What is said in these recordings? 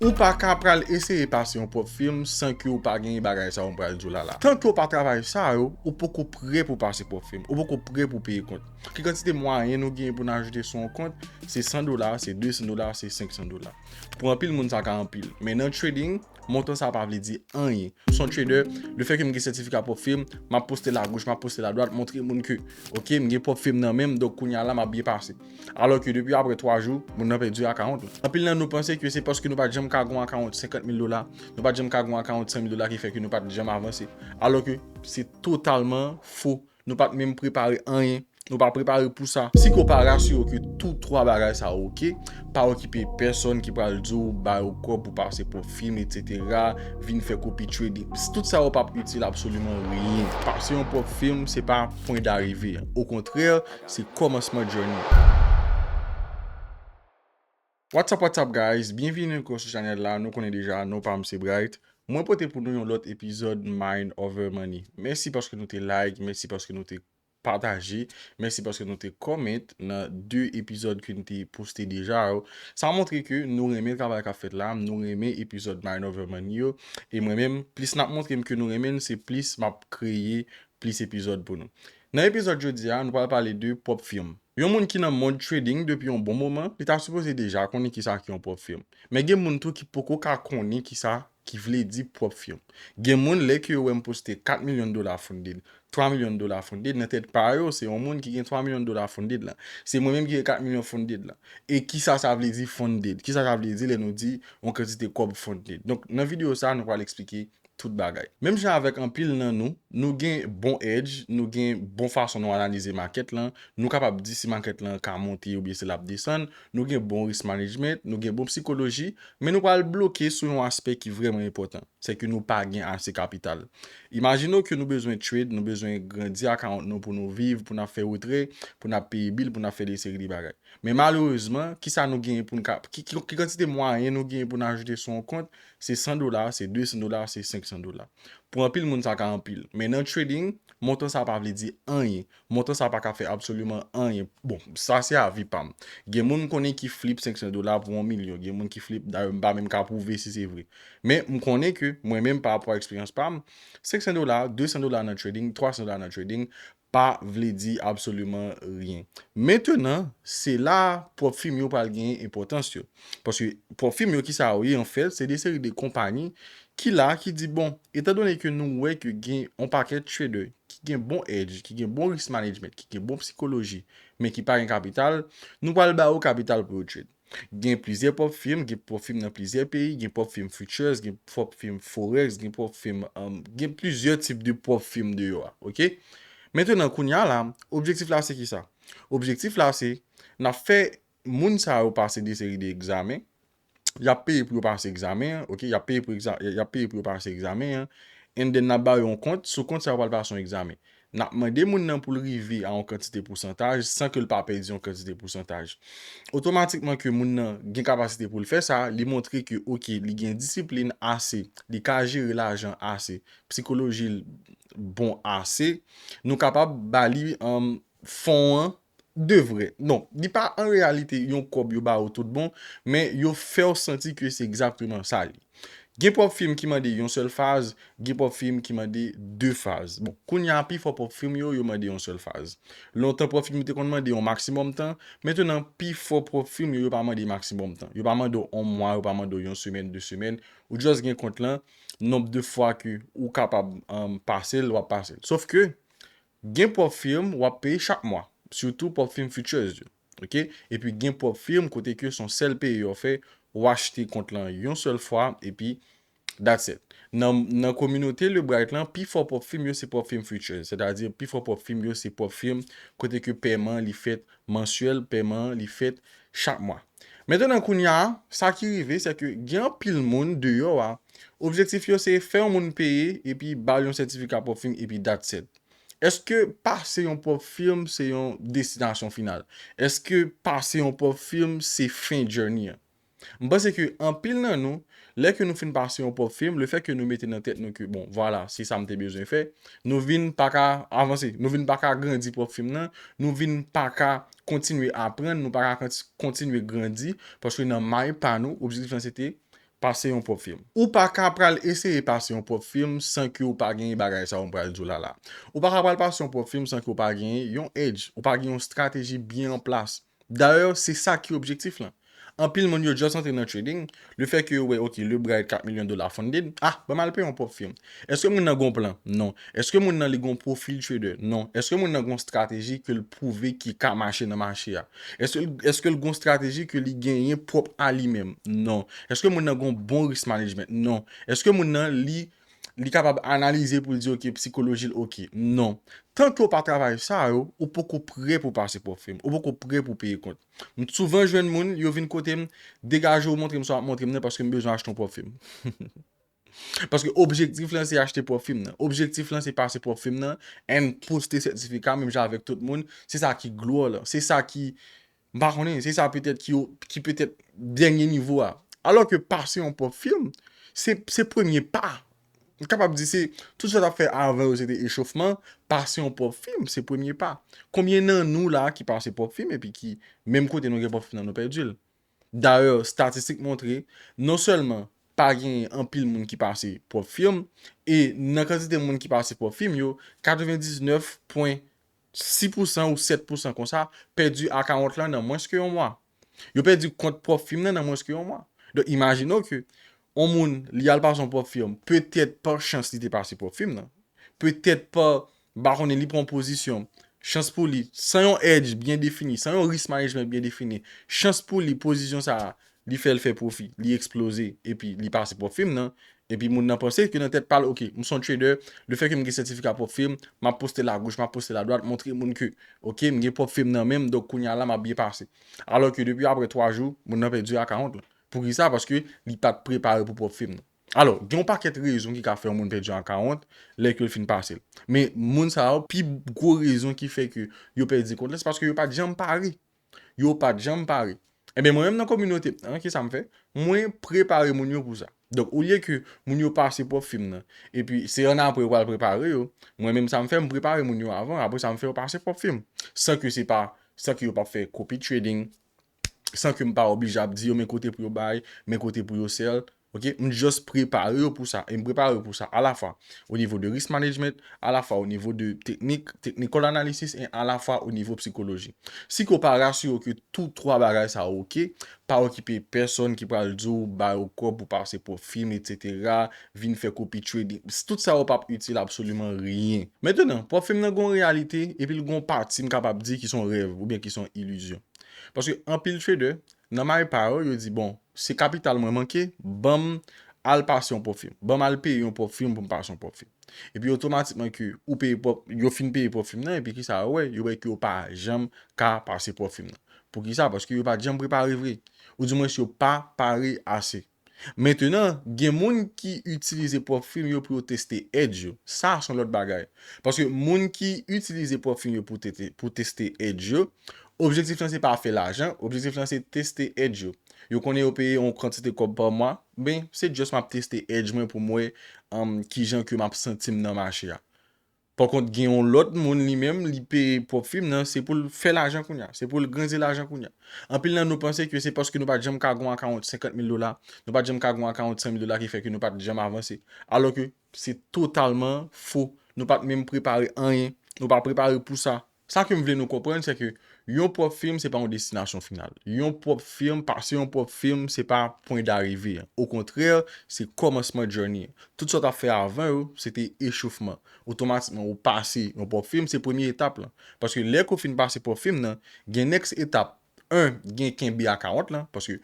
Ou pa ka pral eseye pase yon pwòp film san ke ou pa genyen bagay sa yo m pral di w la la. Tanke ou pa travay sa yo, ou poko pre pou pase pwòp film, ou poko pre pou peye kont. Ki kantite mwayen nou genyen pou n ajoute sou yon kont, se 100 dola, se 200 dola, se 500 dola. Pou anpil moun sa ka anpil. Men nan trading, montan sa pa vle di anyen. S on trader, le fè ke m gen sètifika pwòp film, m ap poste l a goch, m ap poste l a dwat, montre moun ke, ok, m gen pwòp film nan men m, donk kounya la m ap byen pase. Alò ke depi apre 3 jou, moun nan pèdi akawont la. Anpil nan nou panse ke se paske nou pa t janm ka gen yon akawont 50 mil dola, nou pa t janm ka gen yon akawont 100 mil dola ki fè ke nou pa t janm avanse. Alò ke se totalman fo. Nou pa t menm prepare anyen. Nou pa prepare pou sa. Si ke w pa rasire w ke tou 3 bagay sa yo ok, pa okipe pèsòn ki pral di w ba yo kòb pou pase pwòp fim etsetera, vin fè kopi trading. Tout sa yo p ap itil absoliman ryen. Pase yon pwòp fim se pa pwen darive. Okontrè, Se komansman journey a. What's up what's up guys byenvini ankò sou chanèl la nou konnen deja non pam se Bright mwen pote pou nou yon lòt epizòd mind over money mèsi paske nou te like mèsi paske nou te pataje mèsi paske nou te comment nan 2 epizòd ke nou te poste deja yo sa montre ke nou renmen travay kap fèt la nou renmen epizòd mind over money yo e mwen menm plis nap montrem ke nou renmenl se plis map kreye plis epizòd pou nou Nan epizòd jodi a, nou pral pale de pwòp firm. Yon moun ki nan mond trading depi yon bon moman, li ta sipoze deja konnen kisa ki yon pwòp firm. Men gen moun tou ki poko ka konnen kisa ki vle di pwòp firm. Gen moun lè ke yo wèm poste 4 milyon dola funded, 3 milyon dola funded, nan tèt pa yo se yon moun ki gen 3 milyon dola funded lan. Se mwen menm ki gen 4 milyon funded lan. E kisa sa vle di funded? Kisa sa vle di lè nou di yon kantite kòb funded? Donk nan video sa nou pral eksplike tout bagay. Menm jan avèk anpil nan nou, nou gen bon edge, nou gen bon fason nou analize market lan, nou kapab di si market lan ka monte oubyen si lap desann, nou gen bon risk management, nou gen bon psikoloji, men nou pral bloke sou yon aspè ki vrèman enpòtan, se ke nou pa gen ase kapital. Imajine w ke nou bezwen trade, nou bezwen grandi account nou pou nou viv, pou nap fè retrè, pou nap peye bill, pou nap fè de seri de bagay. Men malerezman, kisa nou genyen pou nou ka, ki kantite mwayen nou genyen pou nou ajoute sou yon kont, Se 100 dola, se 200 dola, se 500 dola. Pou anpil moun sa ka anpil. Men nan trading, montan sa pa vle di anyen. Montan sa pa ka fè absoliman anyen. Bon, sa se avi pa m. Gen moun m konnen ki flip 500 dola pou 1 milyon. Gen moun ki flip, dayè m pa menm ka pwouve si se vre. Men, m konnen ke mwen menm pa rapò a eksperyans pa m, 500 dola, 200 dola nan trading, 300 dola nan trading, pa vle di absoliman ryen. Mentenan, se la a pwòp fim yo pral genyen enpòtans yo. Paske, pwòp fim yo ki sa yo ye anfèt, se de seri de konpanyi ki la, ki di bon, etan done ke nou wè ke gen on pakèt trader ki gen bon edge, ki gen bon risk management, ki gen bon psikoloji, men ki pa gen kapital, nou pral ba yo kapital pou yo trade. Gen plizyè pop film, gen pop film nan plizyè peyi, gen pop film futures, gen pop film forex, gen pop film um, gen plizyè tip de pop film deyò a, ok? Mentenan kounya la, objektif la se ki sa? Objektif la se, nap fè moun sa yo pase de seri de egzamen, yap peye pou yo pase egzamen an, ok, yap peye pou egza, yap peye pou yo pase egzamen an, and then nap ba yo yon kont, sou kont sa yo pral pase yon egzamen. N ap mande moun nan pou l rive a yon kantite pousantaj san ke l pa pèdi yon kantite pousantaj. Otomatikman ke moun nan gen kapasite pou l fè sa, li montre ke ok li gen disiplin ase, li ka jere lajan ase, psikoloji l bon ase, nou kapab ba li fon an 2 vre. Non, li pa an reyalite yon kòb yo ba ou tout bon, men yo fè w santi ke se egzakteman sa li. Gen pwòp fim ki mande yon sèl faz, gen pwòp fim ki mande 2 faz. Bon, kounye a pifò pwòp fim yo, yo mande yon sèl faz. Lontan pwòp fim yo te konn mande yon maksimòm tan, mentenan pifò pwòp fim yo, yo pa mande maksimòm tan. Yo pa mande w 1 mwa, yo pa mande w yon semèn, 2 semèn, ou just gen kont lan, nonb de fwa ke ou kapab pase l, wap pase l. Sof ke, Gen pwòp firm wap peye chak mwa, sitou pwòp firm futures yo. Ok. Epi gen pwòp firm kote ke son sèl peye yo fè, ou achte kont lan yon sèl fwa epi that's it. Nan nan kominote Le Bright lan pi fò pwòp firm yo se pwòp firm futures, sètadi pi fò pwòp firm yo se pwòp firm kote ke pèman li fèt mansyèl, pèman li fèt chak mwa. Mentnan kounya sa ki rive se ke gen anpil moun deyò a objektif yo se fè yon moun peye epi bal yon sètifika pwòp fim epi that's it. Eske pase yon pwòp film se yon destinasyon final? Eske pase yon pwòp film se fen journey an? M panse ke anpil nan nou Lè ke nou fin pase yon pwòp film, le fè ke nou mete nan tèt nou ke bon, vwala, se sa m te bezwen fè, nou vin pa ka avanse, nou vin pa ka agrandi pwòp film nan, nou vin pa ka kontinye aprann, nou pa ka kontinye grandi, paske nan may pa nou, objektif lan se te pase yon pwòp film. Ou pa ka pral eseye pase yon pwòp film san ke ou pa genyen bagay sa ou m pral di w la la. Ou pa ka pral pase yon pwòp film san ke ou pa genyen yon edge, ou pa gen yon strateji byen an plas. Dayè se sa ki objektif lan. Anpil moun yo just antre nan trading, le fè ke yo wè ok le bra et 4 milyon dola funded, ah banm al peye yon pwòp firm. Eske moun nan gon plan? Non. Eske moun nan li gon profil trader? Non. Eske moun nan gon strateji ke l pwouve ki ka mache nan mache a? Eske l eske l gon strateji ke li genyen pwòp a li menm? Non. Eske moun nan gon bon risk management? Non. Eske moun nan li li kapab analize pou l di ok psikoloji l ok. Non. Tan ke w pa travay sa yo, ou poko prè pou pase pwòp fri m. Ou poko prè pou peye kont. M souvan jwenn moun, yo vin kote m, degaje w montre m sa w ap montre m nan paske m bezwen achte yon pwòp fri m. Paske objektif lan se achte pwòp fri m nan. Objektif lan se pase pwòp fri m nan and poste sètifika menm jan avèk tout moun. Se sa ki glwa w lan. Se sa ki. M pa konnen, se sa petèt ki yo, ki petèt dènye nivo a. Alò ke pase yon pwòp film, se, se premye pa. M kapab di se, tout sa yo t ap fè avan yo se te echofman, pase yon pwòp film se premye pa. Konbyen nan nou la a ki pase pwòp film epi ki, menm kote nou gen pwòp film nan nou pèdi l? Dayè, statistik montre, non sèlman pa genyen anpil moun ki pase pwòp film, e nan kantite moun ki pase pwòp film yo, 99 pwen 6 pousan ou 7 pousan konsa pèdi akawont lan nan mwens ke yon mwa. Yo pèdi kont pwòp fim nan nan mwens ke yon mwa. Donk imajine w ke yon moun li al pase yon pwòp fim, petèt pa chans li te pase pwòp fim nan, petèt pa ba konnen li pran yon pozisyon, chans pou li san yon edge byen defini, san yon risk management byen defini, chans pou li pozisyon sa a li fèl fè pwofi, li eksploze epi li pase pwòp fim nan, epi moun nan panse ke nan tèt pal ok m son trader, le fè ke m gen sètifika pwòp fim, map poste l a goch map poste l a dwat montre moun ke ok m gen pwòp fim nan menm donk kounye a la map byen pase. Alò ke depi aprè 3 jou moun nan pèdi akawont lan. Poukisa? Paske li pat prepare pou pwòp fim nan. Alò, gen yon pakèt rezon ki ka fè yon moun pèdi yon akawont lè ke l fin pase l. Men moun sa yo pi gwo rezon ki fè ke yo pèdi kont lan se paske yo pat janm pare. Yo pa t janm pare. Enben, mwen menm nan kominote m nan, ki sa m fè? Mwen prepare moun yo pou sa. Donk, olye ke moun yo pase pwòp fim nan, epi se ann apre yo pral prepare yo, mwen menm sa m fè, m prepare moun yo avan, apre sa m fè yo pase pwòp fim. San ke se pa, san ke yo pa p fè copy trading, san ke m pa oblije ap di yo men kote pou yo bay, men kote pou yo sell, Ok, m just prepare yo pou sa, e m prepare yo pou sa a la fwa o nivo de risk management, a la fwa o nivo de teknik, technical analysis, e a la fwa o nivo psikoloji. Si ke w pa rasire w ke tou twa bagay sa yo ok, pa okipe pèsòn ki pral di w ba yo kòb pou pase pwòp fim etc, vin fè kopi trading, tout sa yo p ap itil absoliman ryen. Mentenan, pwòp fim nan gen yon reyalite epi l gen yon pati m kapab di ki son rèv oubyen ki son ilizyon. Paske anpil trader, Nan may pa yo, yo di bon, se kapital mwen manke, banm al pase yon pwòp fim. Banm al peye yon pwòp fim pou m pase yon pwòp fim. Epi otomatikman ke ou peye pwòp, yo fin peye pwòp fim nan, epi kisa yo wè? Yo wè ke yo pa janm ka pase pwòp fim nan. Poukisa? Paske yo pa janm prepare vre. Ou di mwens yo pa pare ase. Mentenan, gen moun ki itilize pwòp fim yo pou yo teste edge yo. Sa a s on lòt bagay. Paske moun ki itilize pwòp fim yo pou teste edge yo, objektif lan se pa fè lajan, objektif lan se teste edge yo. Yo konnen yo peye on kantite kòb pa mwa, men se just m ap teste edge mwen pou m wè kijan ke m ap santi m nan mache a. Pakont gen yon lòt moun li menm li peye pwòp fim nan se poul fè lajan kounya, se poul grenze lajan kounya. Anpil nan nou panse ke se paske nou pat janm ka gon akawont 50 mil dola, nou pat janm ka gon akawont 100 mil dola ki fè ke nou pat janm avanse. Alò ke se totalman fo, nou pat menm prepare anyen, nou pa prepare pou sa. Sa ke m vle nou konprann se ke yon pwòp firm se pa yon destinasyon final. Yon pwòp firm, pase yon pwòp firm se pa pwen darive an. Okontrè, se kòmansman journey an. Tout sa w t ap fè avan yo, se te echofman. Otomatikman ou pase yon pwòp firm, se premye etap lan. Paske lè ke w fin pase pwòp firm nan, gen next etap. 1, gen kenbe akawont lan, paske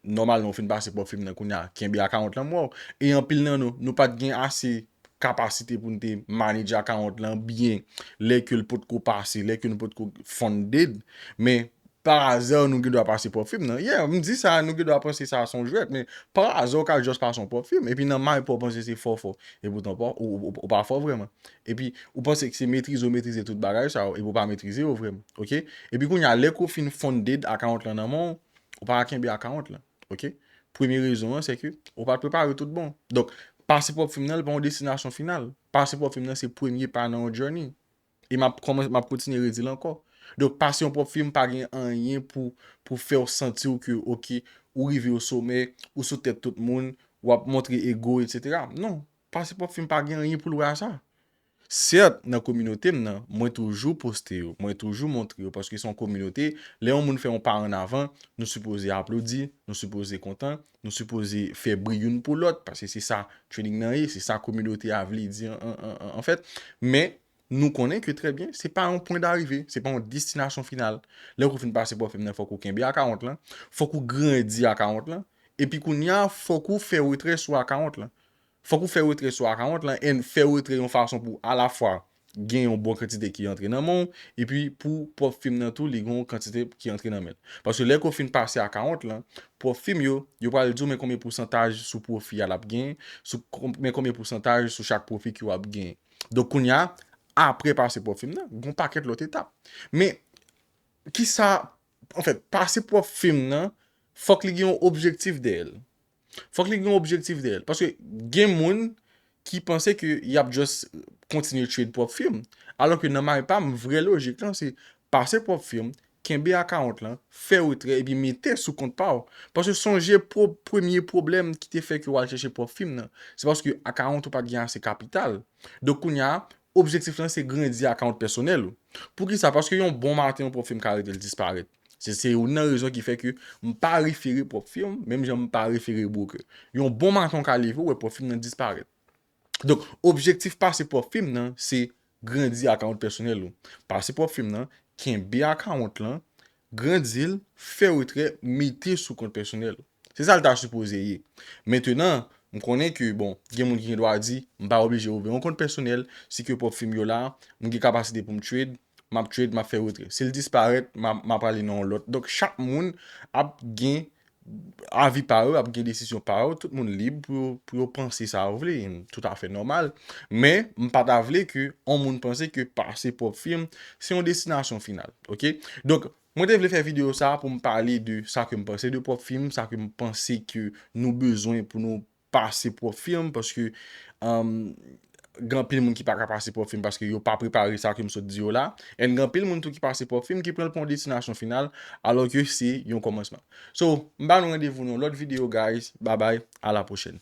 nòmal lè ou fin pase pwòp fim nan kounye a, kenbe akawont lan mwen wè w. E anpil nan nou, nou pa t gen ase kapasite pou n te manedje akawont lan byen lè ke l pot ko pase, lè ke nou pot ko funded. Men, parazè nou gen dwa pase pwòp fim nan. Yeah, m di sa, nou gen dwa panse sa s on jwèt, men parazè ou ka just pase yon pwòp fim, epi nan may pa w panse se fò w fò. Epoutan pa w, ou pa fò vrèman. Epi, ou panse ke se metrize ou metrize tout bagay sa yo, epi ou pa metrize yo vrèman. Ok? Epi kounye a, lè ke w fin funded akawont lan nan men w, Ou pa ka kenbe akawont lan. Ok. Premye rezon an se ke ou pa t prepare tout bon. Donk, pase pwòp fim nan li pa yon destinasyon final. Pase pwòp fim nan se premye pa nan yon journey. E m ap kòmanse, m ap kontinye redi l ankò. Donk, pase yon pwòp fim pa gen anyen pou pou fè w santi w ke ok, ou rive o somè, ou sou tèt tout moun, w ap montre ego, etc. Non. Pase pwòp fim pa gen anyen pou l wè a sa. Sèt, nan kominote m nan, mwen toujou poste yo, mwen toujou montre yo paske se yon kominote, lè yon moun fè yon pa an avan, nou sipoze aplodi, nou sipoze kontan, nou sipoze fè bri youn pou lòt paske se sa training nan ye, se sa kominote a vle di anfèt. Men, nou konnen ke trè byen, se pa yon pwen darive, se pa yon destinasyon final. Lè ou fin pase pwòfèm nan fòk ou kenbe akawont lan, fòk ou grandi akawont lan, epi kounye a fòk ou fè retrè sou akawont lan. Fòk ou fè retre sou akawont lan and fè retre yon fason pou alafwa gen yon bon kantite ki antre nan men w epi pou pwòp fim nan tou li gen yon kantite ki antre nan men l. Paske lè ke w fin pase akawont lan, pwòp fim yo, yo pral di w men konbyen pousantaj sou pwofi a l ap gen, sou men konbyen pousantaj sou chak pwofi ke w ap gen. Donk kounya apre pase pwòp fim nan, gen yon pakèt lòt etap. Men, kisa, anfèt, pase pwòp fim nan, fòk li gen yon objektif dèyè l. Fòk li gen yon objektif dèyèl. Paske gen moun ki panse ke yap just kontinye trade pwòp firm. Alò ke nan may pam, vrè lojik lan se pase pwòp firm, kenbe akawont lan, fè retrè epi mete sou kont pa w. Paske sonje premye pwoblèm ki te fè ke wal chèche pwòp firm nan. Se paske akawont ou pat gen ase kapital. Donk kounya objektif lan se grandi akawont pèsonèl ou. Poukisa? Paske yon bon maten yon pwòp firm ka rete l disparèt. Se se youn nan rezon ki fè ke m pa refere pwòp firm menm jan m pa refere broker. Yon bon maton ka leve ou wè pwòp firm nan disparèt. Donk, objektif pase pwòp firm nan se grandi akawont pèsonèl ou. Pase pwòp firm nan, kenbe akawont lan, grandi l, fè retrè, mete sou kont pèsonèl ou. Se sa l ta sipoze ye. Mentenan, m konnen ke, bon, gen moun ki gen dwa di, m pa oblije ouvè yon kont pèsonèl, si ke pwòp fi m yo la, m gen kapasite pou m trade, m ap trade, m ap fè retrè. Si l disparèt, m ap, m ap ale nan yon lòt. Donk, chak moun ap gen avi pa yo, ap gen desizyon pa yo. Tout moun lib pou yo, pou yo panse sa yo vle. Tout afè nòmal. Men, m pa ta vle ke yon moun panse ke pase pwòp fi m, se yon destinasyon final. Ok? Donk, Mwen te vle fè video sa a pou m pale de sa ke m panse de pwòp film, sa ke m panse ke nou bezwen pou nou pase pwòp film, paske gen anpil moun ki pa ka pase pwòp film paske yo pa prepare sa ke m sot di yo la, and gen anpil moun tou ki pase pwòp film ki pran l pou yon destinasyon final, alò ke se yon kòmansman. So, m ba nou randevou nan yon lòt video guys, babay, a la pwochèn.